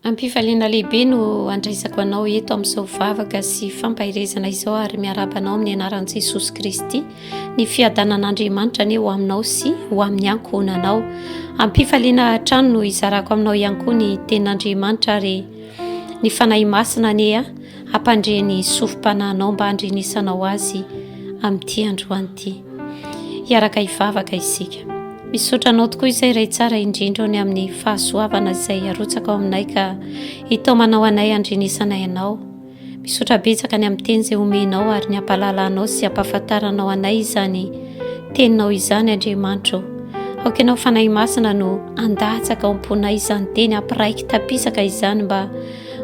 Am-pifaliana lehibe no andraisako anao eto amin'izao vavaka sy fampaherezana izao ary miaraba anao amin'ny anaran'i Jesosy Kristy. Ny fiadanan'Andriamanitra anie ho aminao sy ho amin'ny ankohonanao. Am-pifaliana hatrany no izarako aminao ihany koa ny tenin'Andriamanitra ary ny Fanahy Masina anie. hampandre ny sofi-panahinao mba handrenesanao azy amin'ity androany ity. Hiaraka hivavaka isika. Misaotra anao tokoa izay iray tsara indrindra ny amin'ny fahasoavana izay arotsaka ao aminay ka hitaomanao anay handrenesanay anao. Misaotra betsaka ny amin'ny teny izay omenao ary ny ampahalalanao sy ampahafantaranao anay izany teninao izany Andriamanitro. Aoka ianao fanahy masina no andatsaka ao am-ponay izany teny ampiraiky tapisaka izany mba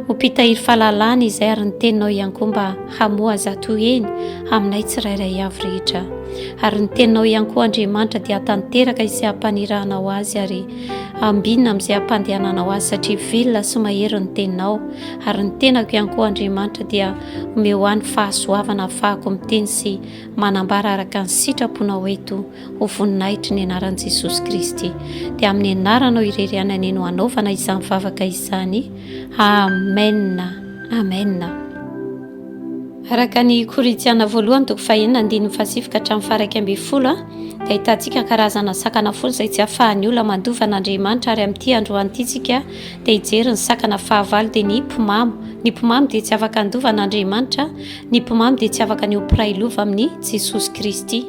Ho mpitahiry fahalalana izay ary ny teninao ihany koa mba hamoha zato heny aminay tsirairay avy rehetra. Ary ny teninao ihany koa Andriamanitra dia hatanteraka izay hampaniranao azy ary ambinina amin'izay hampandehananao azy satria vilona sy mahery ny teninao ary ny tenako ihany koa Andriamanitra dia omeo ahy ny fahasoavana afahako miteny sy manambara araka ny sitraponao eto ho voninahitry ny anaran'i Jesosy Kristy. Dia amin'ny anaranao irery ihany anie no hanaovana izany vavaka izany. Amen. Amen. Araka ny Korintiana voalohany toko fahenina andininy fahasifika hatramin'ny faharaika ambin'ny folo dia ahitantsika karazana sakana folo izay tsy ahafahan'ny olona mandova an'Andriamanitra ary amin'ity androany ity tsika dia hijery ny sakana fahavalo dia ny mpimamo ny mpimamo dia tsy afaka handova an'Andriamanitra ny mpimamo dia tsy afaka ny ho mpiray lova amin'ny Jesosy Kristy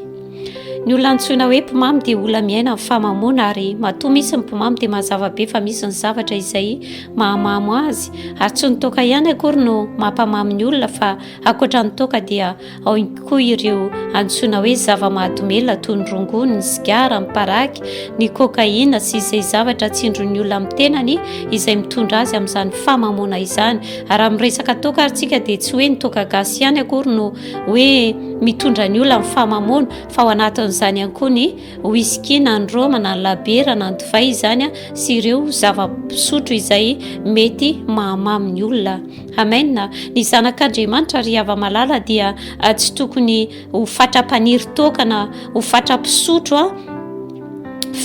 Ny olona antsoina hoe mpimamy dia olona miaina amin'ny famamoana ary matoa misy ny mpimamy dia mazava be fa misy ny zavatra izay mahamamo azy ary tsy ny toaka ihany akory no mampamamy ny olona fa ankoatra ny toaka dia ao koa ireo antsoina hoe zava-mahadomelina toy ny rongony, ny sigara, ny paraky, ny kokaina sy izay zavatra tsindron'ny olona amin'ny tenany izay mitondra azy amin'izany famamoana izany. Ary amin'ny resaka toaka ary tsika dia tsy hoe ny toaka gasy ihany akory no hoe mitondra ny olona ny famamoana fa ao anatin'izany ihany koa ny whisky na ny roma na ny labera na ny divay izany a sy ireo zava-pisotro izay mety mahamamy ny olona amena ny zanak'andriamanitra ry hava-malala dia ah, tsy tokony ho fatra-paniry tokana ho fatra-pisotro a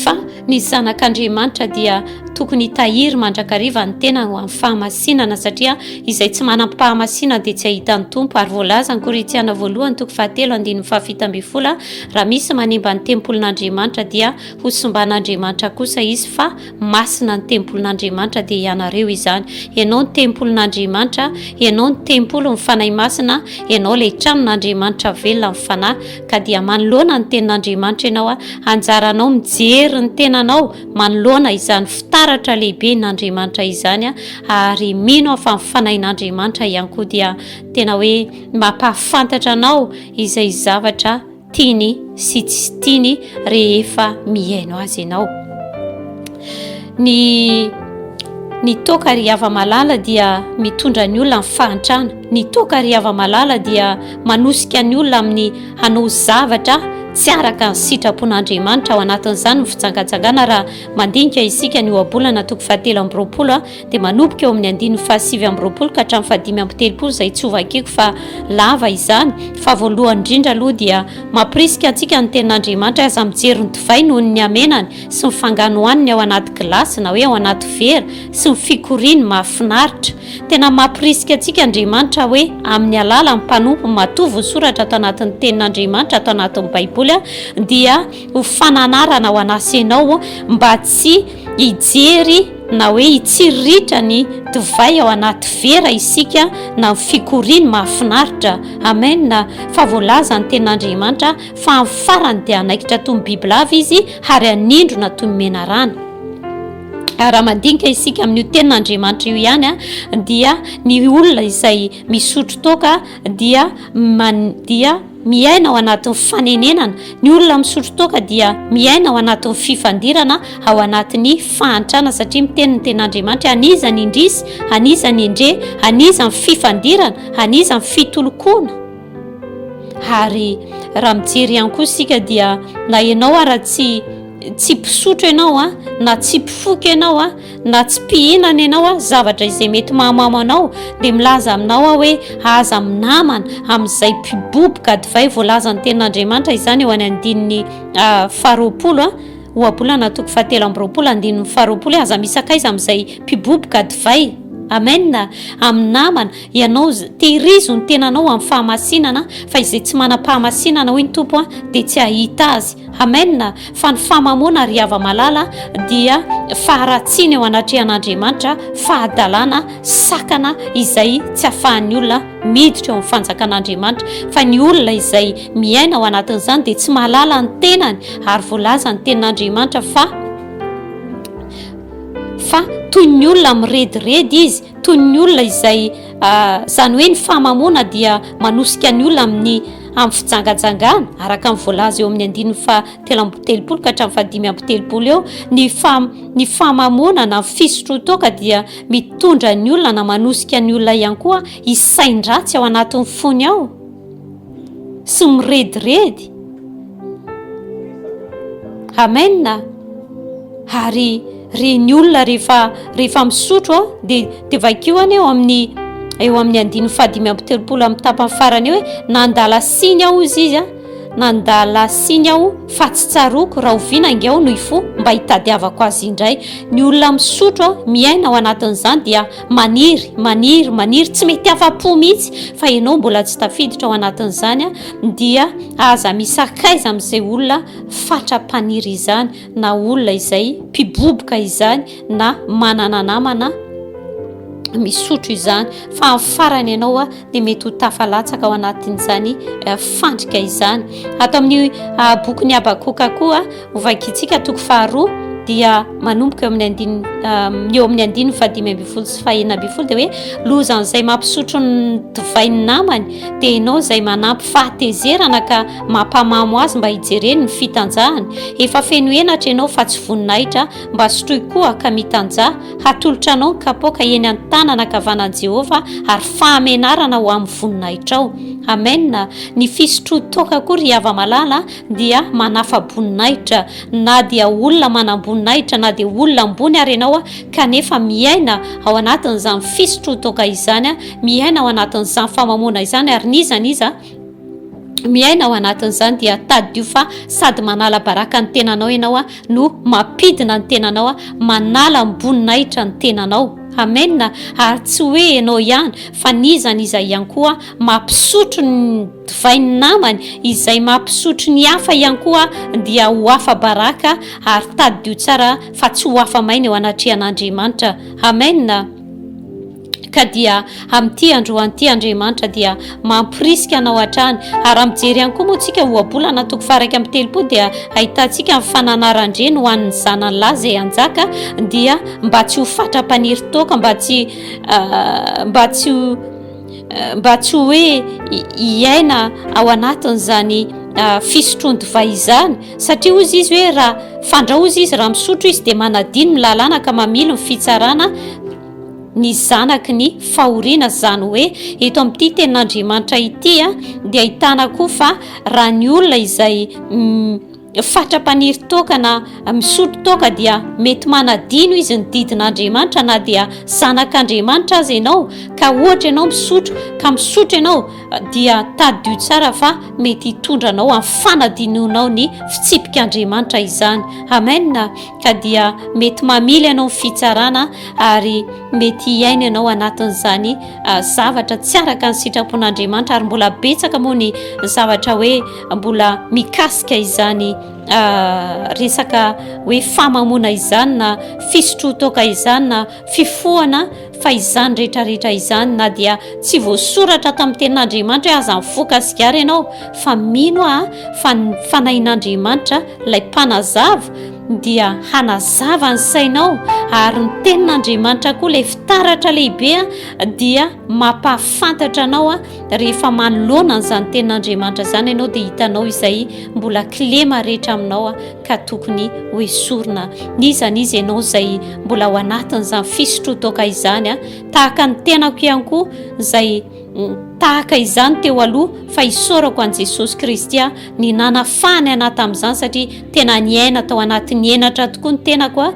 Fa ny zanak' Andriamanitra dia tokony hitahiry mandrakariva ny tenany ho amin'ny fahamasinana, satria izay tsy manam-pahamasinan dia tsy hahita ny Tompo, ary voalazan'i Korintiana voalohany toko fahatelo andininy fahafito ambin'ny folo, Raha misy manimba ny tempolin' Andriamanitra dia hosimban' Andriamanitra kosa izy, fa Masina ny tempolin'Andriamanitra dia ianareo izany. Ianao ny tempolin'Andriamanitra, ianao ny tempolin'ny Fanahy Masina, ianao ilay tranon'Andriamanitra velona amin'ny Fanahy, ka dia manoloana ny tenin'Andriamanitra ianao, anjaranao mijery ny tenanao manoloana izany fitaratra lehiben'Andriamanitra izany, ary mino aho fa ny Fanahin'Andriamanitra ihany koa dia tena hoe mampahafantatra anao izay zavatra tiany sy tsy tiany rehefa mihaino azy ianao ny ny toaka ry hava malala dia mitondra ny olona ny fahantrana ny toaka ry hava malala dia manosika ny olona amin'ny hanao zavatra tsy araka ny sitrapon'andriamanitra ao anatin'izany ny fijangajangana raha mandinika isika ny ohabolana toko fahatelo amby roapolo a dia manomboka eo amin'ny andininy fahasivy amby roapolo ka hatramin'ny fahadimy amby telopolo izay tsy hovakiko fa lava izany fa voalohany indrindra aloha dia mampirisika antsika ny tenin'Andriamanitra aza mijery ny divay noho ny hamenany sy ny fanganohaniny ao anaty gilasy na hoe ao anaty vera sy ny fikoriany mahafinaritra tena mampirisika antsika Andriamanitra hoe amin'ny alala ny mpanompo matoa voasoratra ato anatin'ny tenin'Andriamanitra ato anatin'ny baiboly dia ho fananarana ho anasenao mba tsy hijery na hoe hitsiriritra ny divay ao anaty vera isika na ny fikoriany mahafinaritra. Amen! Fa voalaza ny Tenin'Andriamanitra fa amin'ny farany dia hanaikitra toy ny bibilava izy ary hanindrona toy ny menarana. Ary raha mandinika isika amin'io Tenin'Andriamanitra io ihany dia ny olona izay misotro toaka dia man dia Miaina ao anatin'ny fanenenana, ny olona misotro toaka dia miaina ao anatin'ny fifandirana ao anatin'ny fahantrana satria miteny ny ten'Andriamanitra an'iza ny indrisy, an'iza ny endrey, an'iza ny fifandirana, an'iza ny fitolokoana. Ary raha mijery ihany koa isika dia na ianao ara tsy tsy mpisotro ianao a, na tsy mpifoka ianao a, na tsy mpihinana ianao a zavatra izay mety mahamamo anao dia milaza aminao aho hoe aza minamana amin'izay mpiboboka divay voalazan'ny tenin'andriamanitra izany eo any andininy ah, faharoapolo a ah. ohabolana toko fahatelo amby roapolo andininy faharoapolo aza misakaiza amin'izay mpiboboka divay amena amin'ny namana ianao tehirizo ny tenanao amin'ny fahamasinana fa izay tsy manam-pahamasinana hoy ny tompo a dia tsy hahita azy Amen, fa ny famamoana ry hava-malala dia faharatsiana eo anatrehan'Andriamanitra, fahadalana, sakana izay tsy afahan'ny olona miditra eo amin'ny fanjakan'Andriamanitra, fa ny olona izay miaina ao anatin'izany dia tsy mahalala ny tenany ary voalazan'ny tenin'Andriamanitra fa fa toy ny olona mirediredy izy, toy ny olona izay Ah, izany hoe ny fahamamoana dia manosika ny olona amin'ny amin'ny fijangajangana araka ny voalaza eo amin'ny andininy fa telo amby telopolo ka hatramin'ny fahadimy amby telopolo eo ny fa ny fahamamoana na fisotrotoaka dia mitondra ny olona na manosika ny olona ihany koa hisain-dratsy ao anatin'ny fony ao sy mirediredy amena ary reny olona rehefa rehefa misotro a dia dia vakio any eo amin'ny eo amin'ny andiny fahadimy amby telopolo amin'ny tapany farany hoe nandala siny aho izy izy a nandala siny aho fa tsy tsaroako rahoviana ange aho no ifo mba hitadiavako azy indray ny olona misotro a miaina ao anatin'izany dia Maniry, maniry, maniry, tsy mety afa-po mihitsy fa ianao mbola tsy tafiditra ao anatin'izany dia aza misakaiza amin'izay olona fatra-paniry izany na olona izay mpiboboka izany na manana namana misotro izany fa amin'ny farany ianao a dia mety ho tafalatsaka ao anatin'izany eh, fandrika izany ato amin'ny eh, bokin'ny abakoka koa Hovakintsika toko faharoa dia manomboka eo amin'ny andininy eo amin'ny andininy fahadimy ambin'ny folo sy fahenina ambin'ny folo dia hoe lozan'izay mampisotro ny divay ny namany dia ianao izay manampy fahatezerana ka mampamamo azy mba hijereny ny fitanjahany efa feno henatra ianao fa tsy voninahitra mba sotroy koa ka mitanjaha hatolotra anao ny kapoaka eny an-tanana kavanan'i Jehovah ary fahamenarana ho amin'ny voninahitrao amena ny fisotroan-toaka koa ry hava-malala dia manafa-boninahitra, na dia olona manam-boninahitra na dia olona ambony ary ianao kanefa miaina ao anatin'izany fisotroan-toaka izany, miaina ao anatin'izany famamoana izany ary n'iza n'iza miaina ao anatin'izany dia tadidio fa sady manala baraka ny tenanao ianao no mampidina ny tenanao, manala ny boninahitra ny tenanao. Amen. Ary tsy hoe ianao ihany fa n'iza n'iza ihany koa maha mpisotro ny divay ny namany, izay maha mpisotro ny hafa ihany koa dia ho afa-baraka, ary tadidio tsara fa tsy ho afa-maina eo anatrehan'Andriamanitra. Amen. Ka dia amin'ity androany ity Andriamanitra dia mamporisika anao hatrany, ary raha mijery ihany koa moa tsika ohabolana toko faharaika amin'ny telopolo dia ahitantsika ny fananaran-dreny ho an'ny zanany lahy izay hanjaka, dia mba tsy ho fatra-paniry toaka, mba tsy, mba tsy ho, mba tsy hoe hiaina ao anatin'izany ah, fisotroan-divay izany satria ozy izy hoe raha fandrao izy izy raha misotro izy dia manadino ny lalàna ka mamily ny fitsarana ny zanaky ny fahoriana zany hoe eto amin'ity tenin'andriamanitra ity a ah, dia ahitana koa fa raha ny olona izay mm, fatra-paniry toaka na misotro toaka dia mety manadino izy ny didin'Andriamanitra na dia zanak'Andriamanitra aza ianao ka ohatra ianao misotro ka misotro ianao dia tadidio tsara fa mety hitondra anao amin'ny fanadinoanao ny fitsipik'Andriamanitra izany amena ka dia mety mamily ianao ny fitsarana ary mety hiaina ianao anatin'izany zavatra tsy araka ny sitrapon'Andriamanitra ary mbola betsaka moa ny zavatra hoe mbola mikasika izany ah, resaka hoe famamona izany na fisotrotoka izany na fifohana fa izany rehetrarehetra izany na dia tsy voasoratra tamin'ny tenin'andriamanitra hoe aza mifoka sigara ianao fa mino ah fa ny fanahin'andriamanitra ilay mpanazava dia hanazava ny sainao ary ny tenin'andriamanitra koa ilay fitaratra lehibea dia mampahafantatra anao a rehefa manoloana an'izany tenin'Andriamanitra izany ianao dia hitanao izay mbola kilema rehetra aminao a ka tokony ho esorina n'iza n'iza ianao izay mbola ao anatin'izany fisotrotoka izany a tahaka ny tenako ihany koa izay mm, tahaka izany teo aloha fa isaorako an'i Jesosy Kristy a ny nanafahany anahy tamin'izany satria tena niaina tao anatin'ny henatra tokoa ny tenako a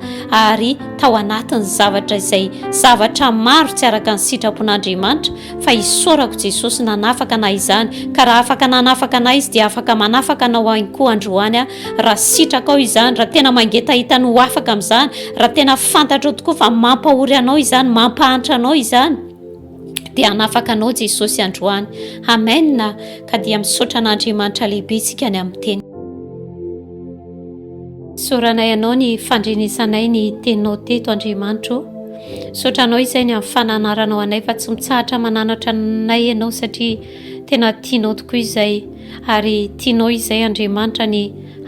ary tao anatin'ny zavatra izay zavatra maro tsy araka ny sitrapon'andriamanitra fa hisaorako jesosy nanafaka anay izany ka raha afaka nanafaka anay izy dia afaka manafaka anao any koa androany a raha sitrakao izany raha tena mangetahita ny ho afaka amin'izany raha tena fantatrao tokoa fa mampahory anao izany mampahantra anao izany dia hanafaka anao Jesosy androany. Amen. Ka dia misaotra an'Andriamanitra lehibe tsika ny amin'ny teny. Soranay anao ny fandrenesanay ny teninao teto Andriamanitro. Sotra anao izay ny amin'ny fananaranao anay fa tsy mitsahatra mananatra anay ianao satria tena tianao tokoa izay ary tianao izay Andriamanitra ny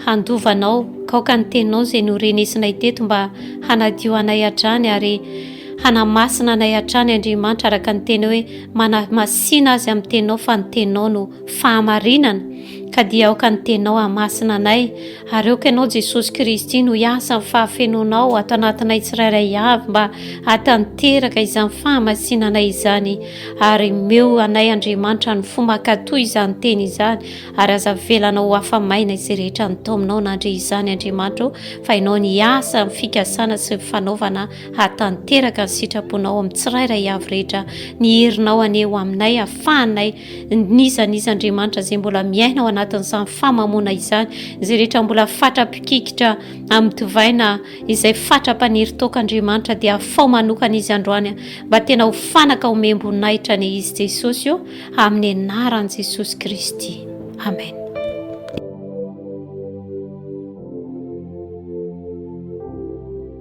handovanao kaoka ny teninao izay norenesinay teto mba hanadio anay hatrany ary Hanamasina anay hatrany Andriamanitra araka ny Teniny hoe manamasina azy amin'ny Teninao fa ny Teninao no fahamarinana ka dia aoka ny Teninao hahamasina anay ary aoka Ianao Jesosy Kristy no hiasa amin'ny fahafenoanao ato anatinay tsirairay avy mba hatanteraka izany fahamasinanay izany ary meo anay Andriamanitra ny fo makatoa izany teny izany ary aza velana ho afa-maina izay rehetra ny taominao nandre izany Andriamanitra fa Ianao ny hiasa amin'ny fikasana sy ny fanaovana Hahatanteraka ny sitraponao amin'ny tsirairay avy rehetra ny herinao anie ho aminay hafahanay n'iza n'iza Andriamanitra izay mbola miaina ao anatin'izany famamoana izany izay rehetra mbola fatra-pikikitra amin'ny tovaina izay fatra-paniry toaka Andriamanitra dia hafao manokana izy androany mba tena ho fanaka homem-boninahitra anie izy Jesosy o amin'ny anaran'i Jesosy Kristy Amen